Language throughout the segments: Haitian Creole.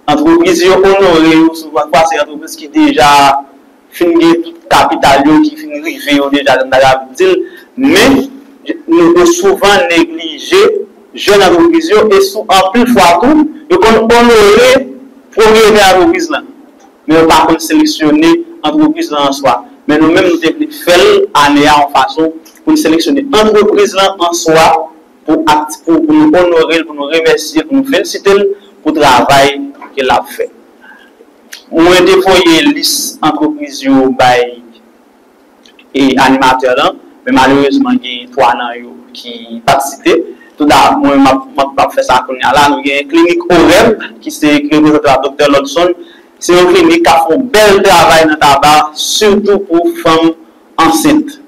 Antrepriz yo onore yo sou pase antrepriz ki deja. fin gen tout kapital yo ki fin rive yo deja jan m ta kapab di l men nou yo souvan neglije jèn antrepriz yo e sou anpil fwa tou yo konn onore pwopriyetè antrepriz lan men yo pa konn seleksyone antrepriz lan an swa men nou menm nou te vle fè l ane a yon fason pou n seleksyone antrepriz lan an swa pou akti pou pou nou onore l pou nou remèsye l pou nou felisite l pou travay ke l ap fè. Mwen te voye lis antrepriz yo bay animatè lan, men malerezman gen 3 nan yo ki pa t site. Tou da mwen m ap fè sa kounye a la. Nou gen klinik OREM ki se ki reprezante pa Doktè Lodson. Se yon klinik k ap fè yon bèl travay nan Taba sitou pou fanm ansent.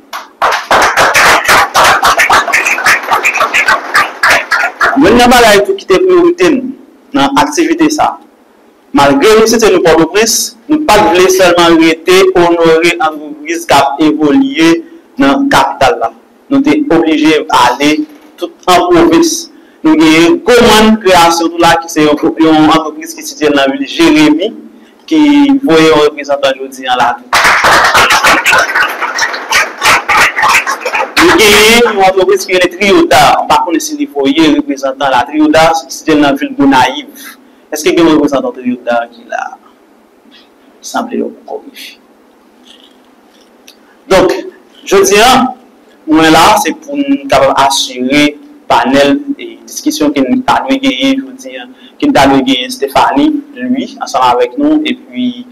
Youn nan bagay tou ki te priyorite nou nan aktivite sa, Malgre nou site nou Pòtoprens, nou pa t vle sèlman rete onore antrepriz k ap evolye nan kapital la. Nou te oblije ale tout an pwovens. Nou genyen Goman Kreyasyon tou la ki se yon antrepriz ki sitye l nan vil Jeremi ki voye yon reprezantan jodi an la tou. Nou genyen yon antrepriz ki rele Triyodar, m pa konnen si li voye reprezantan la, Triyodar sitye l nan vil Gonayiv. Eske gen reprezantan Toyota ki la a? Sanble yo poko rive. Donk, jodi a, mwen la a se pou m kapab asire panèl diskisyon ke n ta dwe genyen jodi a, ke n ta dwe genyen Stéphanie Louis ansanm avèk nou epi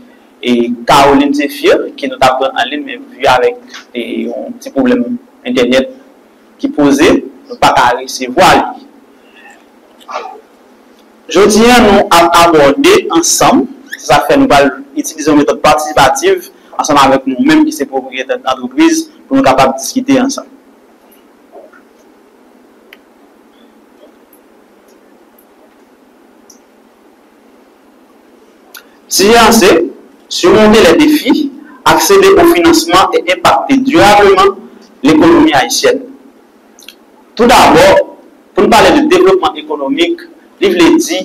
Caroline Zéphir ke nou ta pran an lin men vi avèk yon ti pwoblèm entènèt ki poze, nou pa ka resevwa li. Jodi a nou ap abòde ansanm, se sa k fè nou pral itilize yon metòd patisipativ ansanm avèk nou menm ki se pwopriyetè antrepriz pou nou kapab diskite ansanm. Sijè an se, Simonte lè defi, aksede o finansman e enpakte dirableman lekonomi ayisyèn. Tou dabò. Pou n pale de devlopman ekonomik, li vle di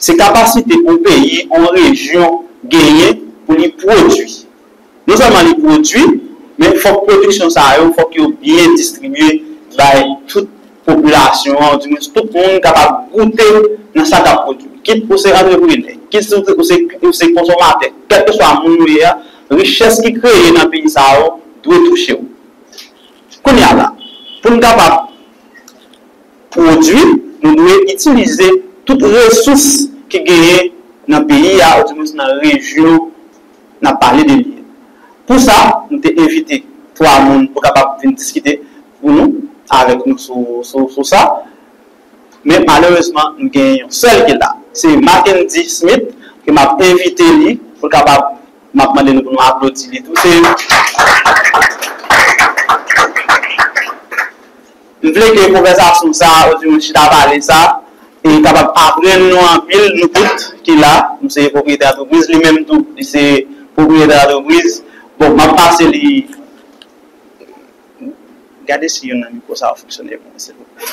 se kapasite yon peyi, yon rejyon genyen pou li pwodui. Non sèlman li pwodui, men fòk pwodiksyon sa yo, fòk yo byen distribye bay tout popilasyon an, oudimwens tout moun kapab goute nan sa k ap pwodui. Kit ou se antreprenè, kit ou se konsomatè, kèlkeswa moun ou ye a, richès ki kreye nan peyi sa yo dwe touche w. Kounye a la, pou n kapab pwodui, nou dwe itilize tout resous ki genyen nan peyi a, oudimonns nan rejyon n ap pale de li. Pou sa, nou te envite twa moun pou kapab vin diskite pou nou, avèk nou sou sa. Men malerezman, nou gen yon sèl ki la. Se Mackendy Smith ke m ap envite li pou l kapab M ap mande nou pou nou aplodi li tou. Se yon. M vle ke konvèsasyon sa a, oubyen chita pale sa a, te kapab aprann nou anpil, nou tout ki la. M se pwopriyetè antrepriz, li menm tou, li se pwopriyetè antrepriz. Bon, m ap pase li. Gade si youn nan mikwo sa yo fonksyone pou mwen, silvouplè.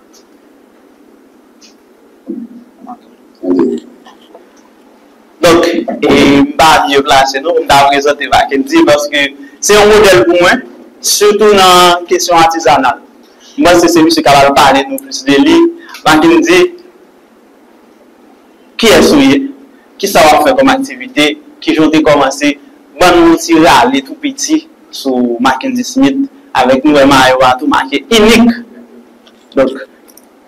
Donk, m pa mye plase non pou m ta prezante Mackendy paske se yon modèl pou mwen, sitou nan kesyon atizanal. M panse se misye k ap al pale nou plis de li. Mackendy, Kiyès ou ye? Kisa wap fè kòm aktivite? Kijan ou te kòmanse? Ban nou yon ti rale tou piti sou Mackendy Smith avèk nou wè mayo a tou make inik. Donk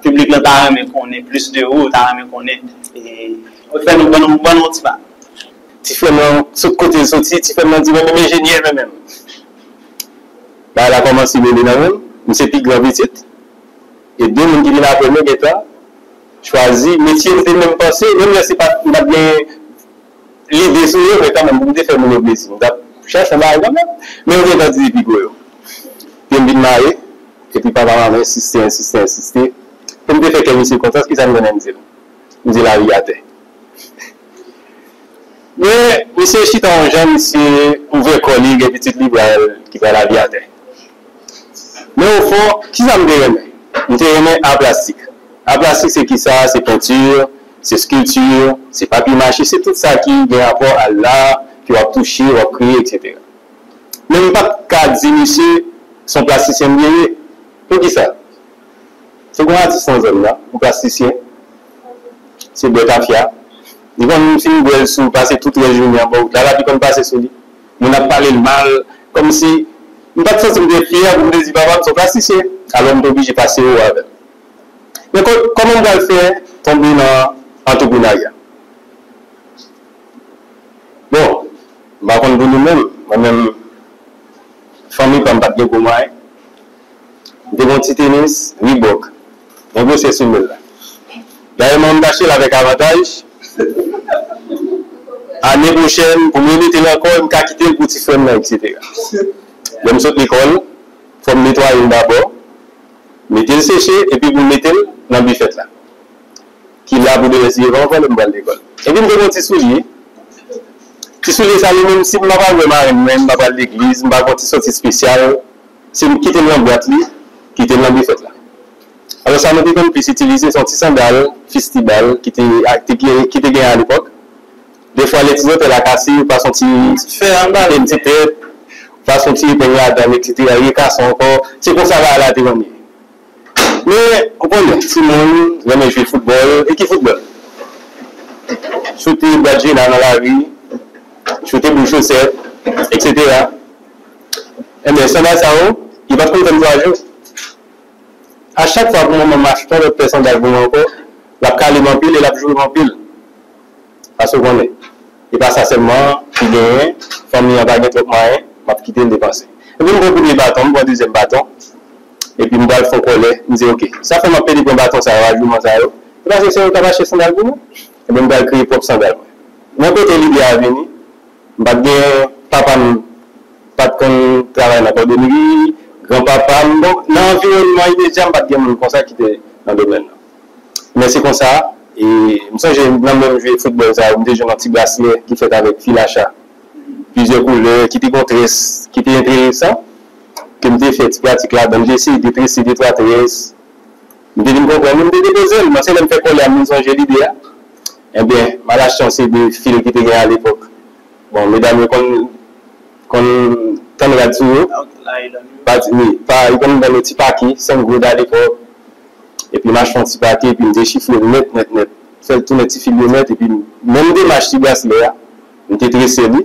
piblik lan ta renmen konnen plis de ou, yo ta renmen konnen fè nou ban nou ban nou yon ti bagay. Ti frèm lan sot kote l soti, ti frèm lan di mwen menm enjenyè mwen menm. Bagay la kòmanse mele nan menm, m se pi gran pitit e 2 moun ki vin aprè mwen gentan chwazi metye nou te menm panse menm lè se pa t nou pa t gen lide sou yo men kanmenm pou m te fè moun yo plezi m t ap chache yon bagay kanmenm men yo gentan di depi gwo yo pye m vin mare epi papa m ap ensiste ensiste ensiste pou m te fè kè misye kontan se ki sa m gen menm m di l m di lavi atè. Men misye chita yon jan misye ouvè kò li gen pitit li pral ki pral abi atè. Men o fon kisa m te renmen? M te renmen a plastik. A plastik se kisa? Se pentur, se skulptur, se papye mache, se tout sa ki gen rapò a la ke w ap touche, w ap kreye eksetera. Men m pa t ka di misye s on plastisyen m ye ye. Poukisa? Se gon atis nan zòn nan pou plastisyen se bwè tafya li konn fin bwèl sou pase tout rès jounen anba wout la lavi konn pase sou li moun ap palel mal kòmsi m pat santim trè fyè pou m te di papam son plastisyen alò m te oblije pase ou avèl men kòman m pral fè tonbe nan antreprenarya bon m pa konn pou nou menm mwen menm fanmi pam pat gen gwo mwayen. M te gen yon ti tenis Reebok. Mwen bwose soumenl la. Dayè mwen tachel avèk avantaj. Ane pwochèn pou m remetel ankò e m ka kitel pou ti frèm nan etc. Lè m sot lekòl fò m netwayel dabò, metel seche epi pou m metel nan bifèt la ki la pou demen si yo pa vòlè m pral lekòl. Epi m te gen yon ti soulye. Ti soulye sa yo menm si m pa pral wè marenn mwen, m pa pral legliz, m pa gen yon ti sòti spesyal. Se li k kite l nan bwat li, kite l nan bifèt la. Alò sa nou te konn plis itilize se yon ti sandal fistibal ki te ki te genyen alepòk. Defwa lè ti zantèy la kase, ou pase yon ti fè a bare l, ti trèt, ou pase yon ti epeng ladan l eksetera, li rekason ankò. Se konsa bagay la te renmen ye. Men, ou konnen, timoun renmen jwe foutbòl, e ki foutbòl? Choute bwadjina nan lari, choute boul chosèt, eksetera. Ebyen sandal sa yo yo pap konn tann 3 jou a chak fwa pou manmanm achte yon lòt pè sandal pou mwen ankò lap kale m anpil e lap joure m anpil paske ou konnen e pa sa sèlman ki genyen fanmi an pa gen twòp mwayen map kite l depanse epi m pran premye baton m pran dezyèm baton epi m pral fon kòlè m di ok sa fè map pede pran baton sa yo a jouman sa yo se paske se yo kap achte sandal pou mwen ebyen m pral kreye pwòp sandal mwen nan kote lide a vini. M pa t gen papa m pa t konn travay nan kòdonri, gran papa m donk nan anviwònman imedya m pa t gen moun konsa ki te nan domèn nan. Men se konsa e m sonje nan menm jwe foutbòl sa yo m te jwenn yon ti braslè ki fèt avèk fil a cha plizyè koulè ki te gon très ki te enteresan ke m te fè ti pratik ladan l, m te eseye de trese de twa très. M te vin konprann li, m te depoze l, men se lè m fè kole a m vin sonje lide a. Enben, malachans se de fil ki te gen alepòk. Bon, medam yo konn konn tann rad sou yo. Pati, wi. Pa, yo konn vann yo ti pake, 5 goud alepòk. Epi m achte yon ti pake, epi m dechifre l nèt nèt nèt. Fè l tounen ti fil yo nèt, epi m menm demach ti braslè a. m te trese li,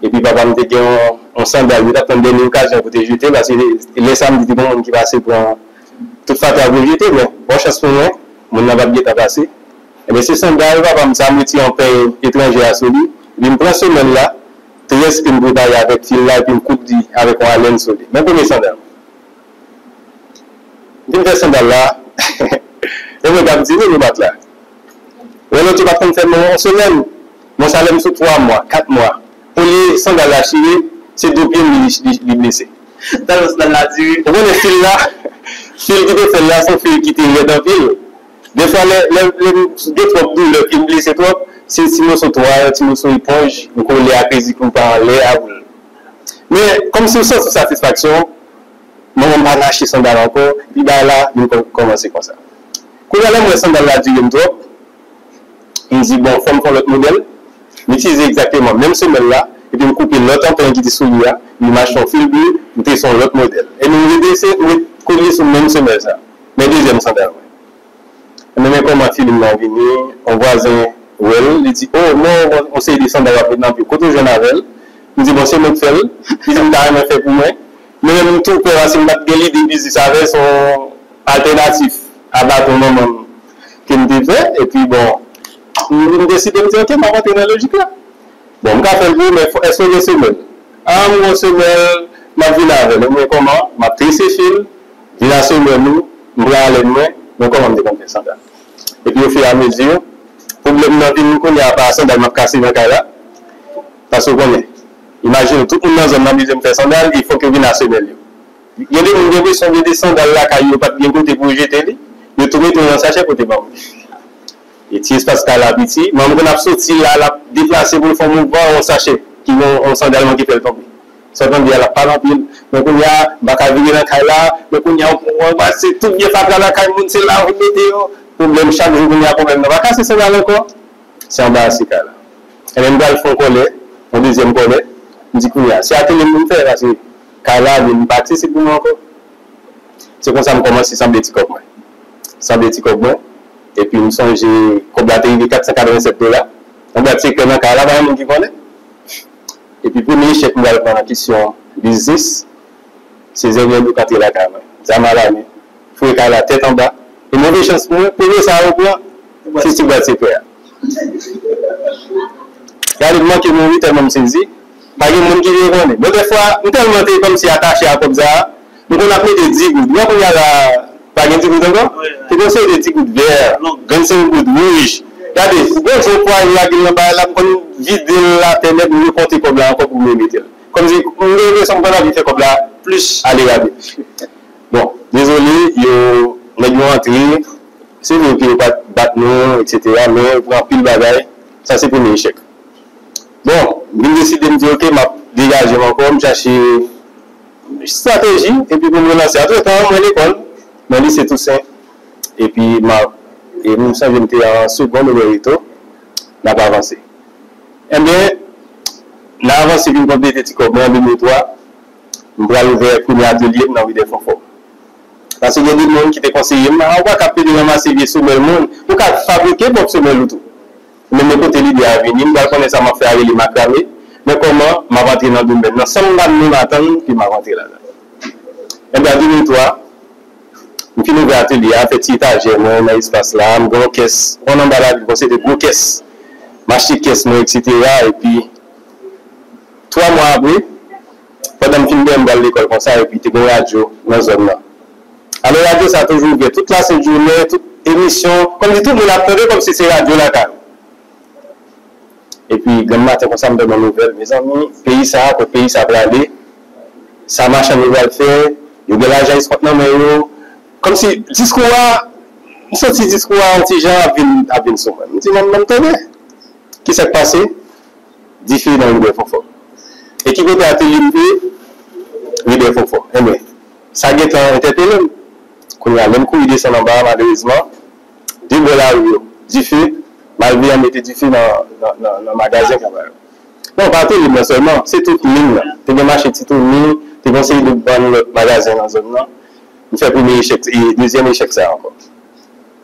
epi papa m te gen yon sandal, li t ap tann dènye okazyon pou te jete l, paske lè sa m di te gen moun ki pase pran tout fatra pou l jete, men bon chans pou mwen, moun nan pa t gen tan pase, enben se sandal papa m sa, m retire yon peny etranjè a sou li, epi m pran semèl la, tres ke m prepare avèk fil la, epi m koud li avèk yon alèn sou li, men premye sandal m fin fè sandal la, yon moun k ap di, men nou bat la, lè lòt yo pa t konn fè menm yon semèl. Bon sa lèm sou 3 mwa 4 mwa olye sandal la chire se do pyem li blese. Sandal ou sandal la diri. Ou konnen fil la fil ki te fèl la son fil ki te rèd anpil defwa lèm gen twòp doulè pyem blese twòp se ti moso twal ti moso eponj ou kole ak rezi pou pa anlè a pou men kòm si ou santi satisfaksyon manmanm pa rache sandal ankò epi bagay la vin kòmanse konsa kounya lèm wè sandal la direm twòp. M di bon fò m fè yon lòt modèl, m itilize egzakteman menm semèl la epi m koupe lòt anpren ki te sou li a, li mache yon fil ble, m trese yon lòt modèl. Ebyen m redrese, m ret kolye sou menm semèl sa. Men dezyèm sandal mwen. Ebyen men kòman filim nan vini, yon vwazen wè l, li di o men w gen yon seri de sandal w ap met nan pye w, kote w jwenn avè l? M di bon se mwen k fè l, li di m ta renmen fè pou mwen. Men menm m tou pè paske m pa t gen lide biznis avè l, se yon altènatif a baton manman m ke m te fè, epi bon, m deside m di ok, m ap antre nan lojik la. Bon, m ka fè l pou ou, men èske w gen semèl? A, m gen semèl, m ap vin avè l. Ebyen kòman? M ap trese fil, vin a semèl ou, m pran alèn mwen, men kòman m te konn fè sandal. Epi ofiramezi, pwoblèm nan vin kounye a pa sandal m ap kase nan kay la, paske w konnen, imajine w, tout moun nan zòn nan mize m fè sandal, e fòk yo vin a semèl yo. Gen de moun gen presyon gen de sandal lakay yo pat gen kote pou yo jete li, yo tou mete yo nan sachè pote ba moun. E ti espas kay la piti, manm konn ap soti la lap deplase poul fon mouvman yon sachè ki gen yon sandal manke fèl tonbe. Sa w tande a lap pale anpil, men kounya m paka vini nan kay la, men kounya se tout byen fatra lakay moun se la ou mete yo, pwoblèm chak jou kounya pwoblèm nan pa kase sandal ankò, se anbarase kay la. Ebyen m pral fon kòlè, yon dezyèm kòlè, m di kounya se ateliye m pou m fè paske. Kay la vin pati si pou mwen ankò. Se konsa m kòmanse sanble ti kòb mwen. Sanble ti kòb mwen. Epi m sonje kòb la te rive 487 dola. Yon bwat sekrè nan kay la pa gen moun ki konnen. Epi premye echèk m pral pran nan kesyon biznis, se zènyèl yo k antre lakay mwen, zam alamen, foure kay la tèt anba. E move chans pou mwen, premye sa yo pran, se ti bwat sekrè a. Gade m manke mouri tèlman m sezi. Pa gen moun ki vle konnen. Mwen dèfwa, m tèlman te kòmsi atache a kòb sa a, m konn ap mete digoud. Ou wè kounye a la a, pa gen digoud ankò? Se konn se te digoud vè, vennsenk goud, wouj. Gade, m konn jan pwa yo a ki nan bagay la, m konn vide l atè nèt, m rekonte kòb la ankò pou m remete l. Kòmsi, m gen enpresyon m konn ap vin fè kòb la plis ale rabi. Bon, dezole, yo, nèg yo antre, se vre ke yo pa t bat nou, eksetera, men yo pran anpil bagay. Sa se premye echèk. Bon, m vin deside m di ok m ap degaje m ankò, m chache estrateji epi pou m relanse. Antretan an mwen lekòl nan lise Tousen epi m ap, e m sonje m te an segond ou byen reto, n ap avanse. Enben, nan avanse vin konplete ti kòb mwen an 2003, m pral ouvè premye atelye m nan ri Dèfonfò. Pase gen de moun ki te konseye m, a ou pa ka ap pede ranmase vye semèl moun, ou ka fabrike pwòp semèl ou tou. Men men kote lide a vini, m pral konnen sa m ap fè a rele makrame, men kòman m ap antre nan domèn nan san m pa menm atann ke m ap antre ladan l? Enben, an 2003, m fin ouvè atelye a, fè ti etajè mwen nan espas la, m gen yon kès, ou konn anba lavil bon se de gwo kès, m achte kès mwen eksetera epi 3 mwa apre, pandan m fin byen m pral lekòl konsa epi te gen radyo nan zòn nan alò radyo sa toujou ouvè tout lasent jounen tout emisyon kòmsi tout moun ap tande kòmsi se radyo lakay ou epi grann maten konsa m tande yon nouvèl mezanmi peyi sa kot peyi sa prale sa machann yo pral fè yo gen lajan eskont nan men yo kòmsi diskou a m santi diskou a yon ti jan ap vin ap vin sou mwen m di nan m tande kisa k pase. Dife nan Rivyè Fonfon. E ki kote atelye m te? Rivyè Fonfon. Enben, sa gen tan entèpele m. Kounye a, lè m kouri desann anba a, malerezman, de bò lari yo, dife, malveyan mete dife nan Magazen Kaba yo. Non, pa atelye m nan sèlman, se tout lim nan. Te gen mache Ti Toni, te gen yon seri de bann lòt Magazen nan zòn nan. M fè premye echèk, dezyèm echèk sa a ankò.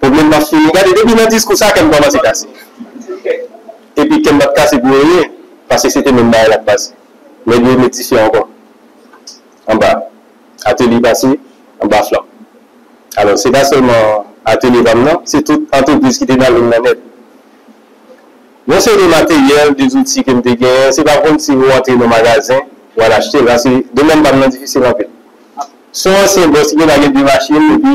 Pwoblèm pa fini. Gade depi nan diskou sa kèm kòmanse kase. Epi kèm pap kase pou anyen paske se te menm bagay lap pase. Nèg yo met dife ankò anba atelye pase anba flanm. Alò se pa sèlman atelye pam nan se tout antrepriz ki te nan lim nan nèt. Yon seri de materyèl, de zouti kem te genyen se pa kòmsi ou antre nan magazen ou al achtel paske domèn pam nan difisil anpil. Son ansyen bòs li pa gen 2 machin epi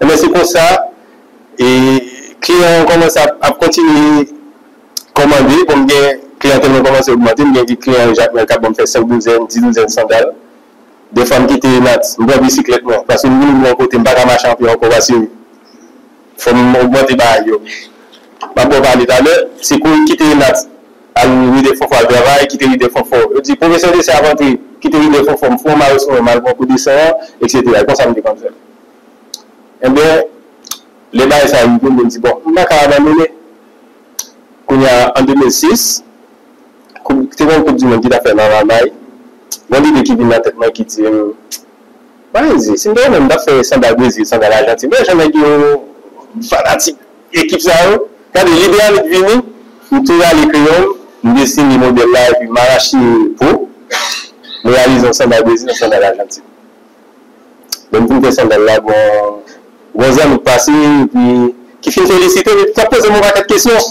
Enben se konsa e kliyan an kòmanse ap kontinye kòmande bon m gen kliyantèl mwen kòmanse ogmante m gen ki kliyan yo Jakmèl k ap ban m fè 5 douzèn, 10 douzèn sandal dèfwa m kite Natz m pran bisiklèt mwen paske m vini m wè yon kote m pa ka mache anpil ankò paske fò m ogmante bagay yo m ap ba w pale talè se kouri kite Natz. Al ride fon fon al travay kite ride fon fon yo di pwofesè desen ap antre kite ride fon fon m fon mare sou mwen m al pran kou desen an eksetera e konsa m te konn fè enben lè bagay sa rive m vin di bon m pa ka abandone kounye a an 2006 koup te gen yon koup di mond ki t ap fèt nan lalmay gen yon lide ki vin nan tèt mwen ki di m mayizi si m te renmen m ta fè sandal brezil sandal ajantin men jan nèg yo fanatik. Ekip sa yo, gade lide annik vini, m tou rale kreyon m, m desine modèl la epi m arache po, m reyalize yon sandal Brezil, yon sandal Ajantin. Lè m fin fè sandal la, gon zanmi k pase epi ki fin felisite m epi k ap poze m yon pakèt kesyon.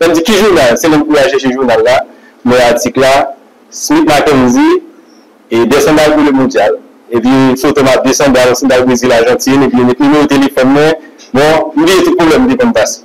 Nan di ki jounal? Se lèm fouye al chèche jounal la, m wè atik la, Smith Mackenzie, de sandal pou le mondyal. Epi foto m ap de sandal, sandal Brezil Ajantin, epi yo met nimewo telefòn mwen. Bon, m bliye tout pwoblèm m te konn pase.